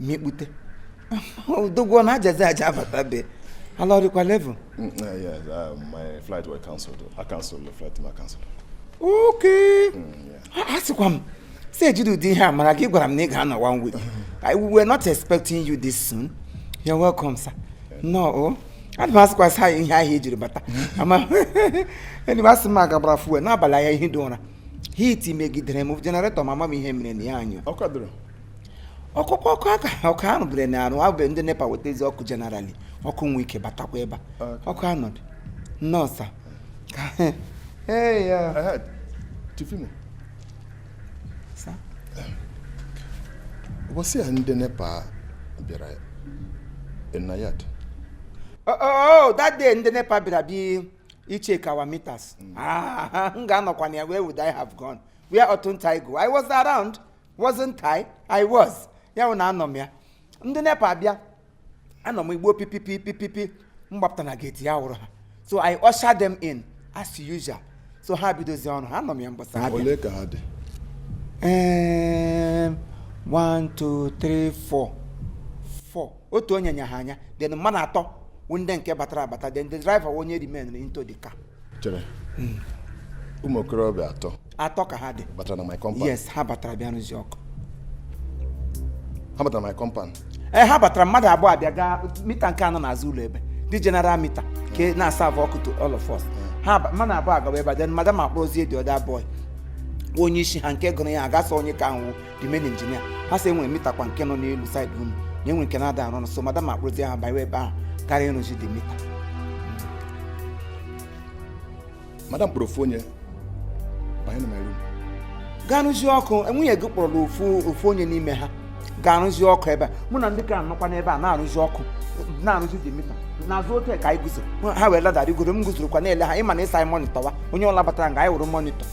mikpute odogwu na ajazi aja abata be ala ọdịkwa level mm, eh, yes uh, my flight was cancelled i cancelled the flight ma cancelled okay mm, a sịkwa m si ejide ụdị ihe a mara gị gwara m na ị ga-anọ one week we were not expecting you this soon you're welcome sir no oh. ana m asịkwasị anyị ihe ahụ ejiri bata ama enyi m asị m aga gbara fuel n'abalị anya ehidị ụra heat megidere m generator ma ama m ihe mere na ya anyụ ọkụkọ ọkụ aka ọkụ ahụ bere na arụ abụ ndị nepa wetazie ọkụ generally ọkụ nwe ike batakwa ebe ọkụ anọdụ no sir Chief Imo ụbọchị a ndị nepa bịara na yard oh, oh, oh, that day ndị nepa bịara bịa check our meters mm. ah, m ga-anọkwa na ya where would I have gone where oughtn't I go I was around wasn't I? I was. ya bụ na anọ m ya ndị nepa abịa anọ m igbo pipipipipipi m gbapụta na gate ya wụrụ ha so i usher them in as usual so ha bidozi ọrụ ha anọ m ya mbọsa ha bịa ole ka ha dị Em, one two three four four otu onye nya ha anya then mmadụ atọ wụ ndị nke batara abata then the driver wụ onye remain into the car chere hmm. ụmụ okorobịa atọ atọ ka ha dị batara na my compound yes ha batara bịa rụzi ọkụ ha batara na my compound ee eh, ha batara mmadụ abụọ abịa gaa meter nke a nọ n'azụ ụlọ ebe the general meter ke na-aserve ọkụ to all of us hmm. ha mmadụ abụọ agawa ebe a then madam akpọzie the other boy onye isi ha nke gụrụ ya agasa onye ka ahụ the main engineer ha sị e nwere meter kwa nke nọ n'elu side room na enwere nke na-ada arụ ọrụ so madam akpọrọzie ya banye ebe ahụ ka ya rụzie the meter madam kpọrọ ofu onye banye na my room gaa rụzie ọkụ nwunye gị kpọrọ ofu ofu onye n'ime ha gaa rụzie ọkụ ebe a mụ na ndị ke a nọkwa n'ebe a na-arụzi ọkụ na-arụzi the meter n'azụ ote ka anyị guzo ha were ladder rigoro m guzorokwa na-ele ha ị ma na ị sị anyị monitorwa onye ọla batara nga anyị wụrụ monitor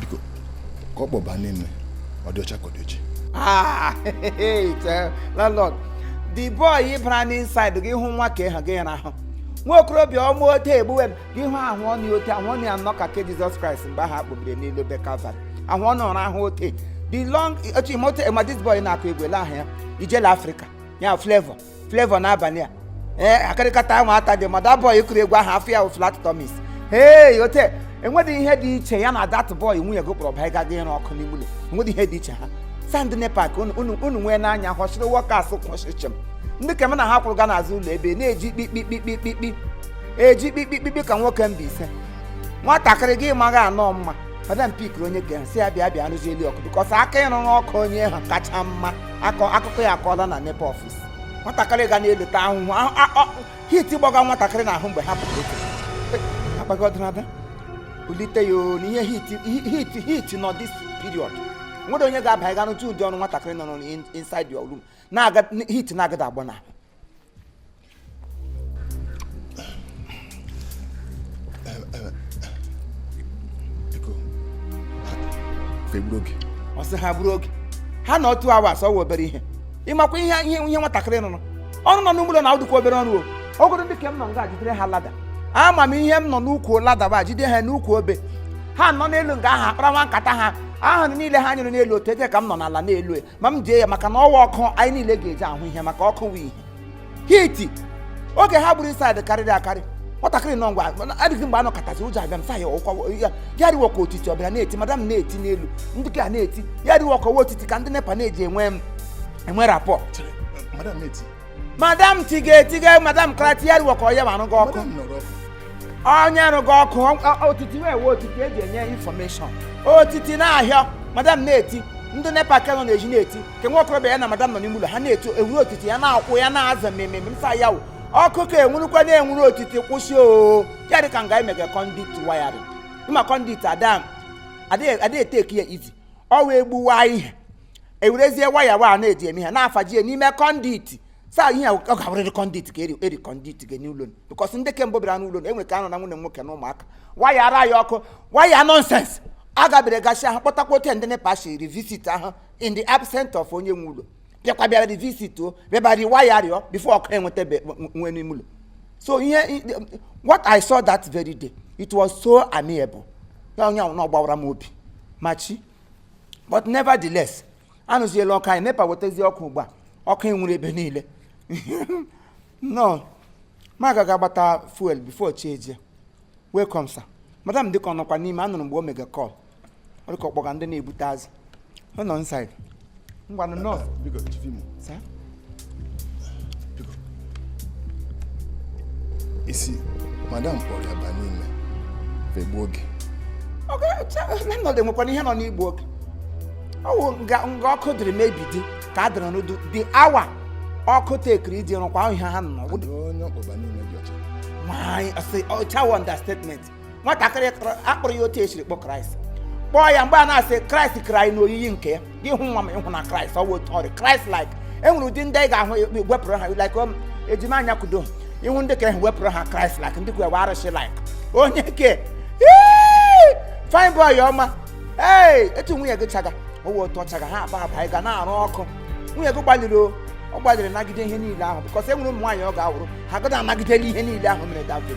biko ke ọ kpọba n'ime ọ dị ọcha ka ọ dị oji Ah, tell landlord the boy ị bara n'inside gị hụ nwa ka ịha gị ya n'ahụ nwa okorobịa ọma ote egbuwe m gị hụ ahụ ọnụ ya ote ahụ ọnụ ya nọ ka ke jizọs kraịst mgbe ahụ a kpọbiri n'elu obe kalvarị ahụ ọnụ ọrụ ahụ ote the long otu imote ma this boy na-akụ egwu elee aha ya Ijele Africa ya Flavour Flavour N'abania ee akịrịkata ahụ ata dị ma that boy kụrụ egwu ahụ afọ ya wụ flat tummies hei ote enweghị ihe dị iche ya na that boy nwunye gị kpọrọ baa gaa ịrụ ọkụ n'ime ụlọ enweghị ihe dị iche ha sị ndị nepa ka unu- unu unu nwee n'anya họchiri workers kwụchịchịm ndị ke m na ha kwụrụ gaa n'azụ ụlọ ebe na-eji kpikpikpikpikpi eji kpikpikpikpi ka nwoke Mbaise nwatakịrị gị maghị anọ mma madam pickiri onye ga-eso ya bịa bịa rụzie elu ọkụ because aka ịrụ n'ọkụ onye ha kacha mma akọ akụkọ ya akọọla na nepa office nwatakịrị ga na-eleta ahụhụ ahụ- a- ọ- heat gbaga nwatakịrị n'ahụ mgbe ha pụrụ otu akpaghị ọdịnada bulite ya o na ihe heat heat heat nọ this period nwere onye ga-aba ịga n'otu ụdị ọrụ nwatakịrị nọ n'in- inside your room na-aga heat na-agada agba n'ahụ ọ sị ha gburu oge ha na otu awa asọwa obere ihe ịmakwa ihe ihe ihe nwatakịrị nụrụ ọnụ nọ n'ụlọ na ụdịkwa obere ọrụ o ogoro ndị ke m nọ nga jidere ha lada ama m ihe m nọ n'ukwu lada ba jide ha n'ukwu obe ha nọ n'elu nga ahụ akpara nwa nkata ha ahụ niile ha nyụrụ n'elu otu eje ka m nọ n'ala n'elu ma m ji ya maka na ọ wụ ọkụ anyị niile ga-eji ahụ ihe maka ọkụ wụ ihe heat oge ha gburu inside karịrị akarị nwatakịrị nọ ngwa adịghị mgbe a nọkatazi ụjọ abịa m sa ya ọkwa ya ya rịwa ka otiti ọbịa na-eti madam na-eti n'elu ndị ke na-eti ya rịwa ka ọ wụ otiti ka ndị nepa na-eji enwe m enwe rapport Chere, madam na-eti madam tiga etiga madam ka na-eti ya rịwa ka ọ ya ma arụga ọkụ onye rụga ọkụ ọ- otiti wee wee otiti eji enye information otiti na-ahịa madam na-eti ndị nepa ke nọ n'ezi na-eti ke nwa okorobịa ya na madam nọ n'ime ụlọ ha na-eti enwuru otiti ya na-akwụ ya na-aza mmemme msa ya wụ ọkụ ka enwurukwa na-enwuru otiti kwụsị o ya dị ka nga emega conduit wiring ịma conduit ada adịghị adịghị eteki ya easy ọ wee gbuwa ihe ewerezie waya wa na-eji eme ha na-afaji ya n'ime conduit saa ihe ọ ga-abụrịrị conduit ka eri conduit gị n'ụlọ because ndị kemgbe bịara n'ụlọ enwe ka anọ na nwunye nwoke na ụmụaka waya ara ya ọkụ waya nonsense agabere gasị ahụ kpọtakwa ote ndị nepa si revisit ahụ in the absent of onye nwe ụlọ bịakwa bịara revisit o bịaba rewire rịọ before ọkụ enweta nwe n'ime ụlọ so ihe what i saw that very day it was so amiable ya onye ahụ na ọ gbawara m obi much but nevertheless arụziela ọkụ anyị nepa wetazi ọkụ ugbu a ọkụ enwuru ebe niile no more agaghị agbata fuel before chi ejie welcome sir madam dịka ọ nọkwa n'ime anụrụ mgbe o mega call ọ dịka ọ kpọga ndị na-ebute azụ ọ nọ inside ngwanụ nọọsụ biko chifi m biko isi madam kpọrọ ya ba n'ime fegbuo oge nọdụ enwekwara ihe nọ n'igbu oge ọ wụ nga ọkụ dịrị mebi dị ka a dịrị n'udu the hour ọkụ tekiri iji rụkwa ihe ha nọ nwaanyị ọcha wụ understatement nwatakịrị a kpụrụ ya otu e siri kpụ kraịst kpụọ ya mgbe a na-asị kraịst kere anyị n'oyiyi nke ya gị hụ nwa m ị hụ na kraịst ọ bụ otu ọ rị kraịst like e nwere ụdị ndị ị ga-ahụ a kpụrụ ha like um, ejima anya kudo ị hụ ndị ka ahụ a kpụrụ ha kraịst like ndị kwe arụsị like onye ke fine boy ọma ee etu nwunye gị chaga ọ wụ otu ọ chaga ha aba aba anyị ga na-arụ ọkụ nwunye gị gbalịrị o ọ gbalịrị nagide ihe niile ahụ because e nwere ụmụ nwaanyị ọ ga-awụrụ ha gada anagideli ihe niile ahụ mere davin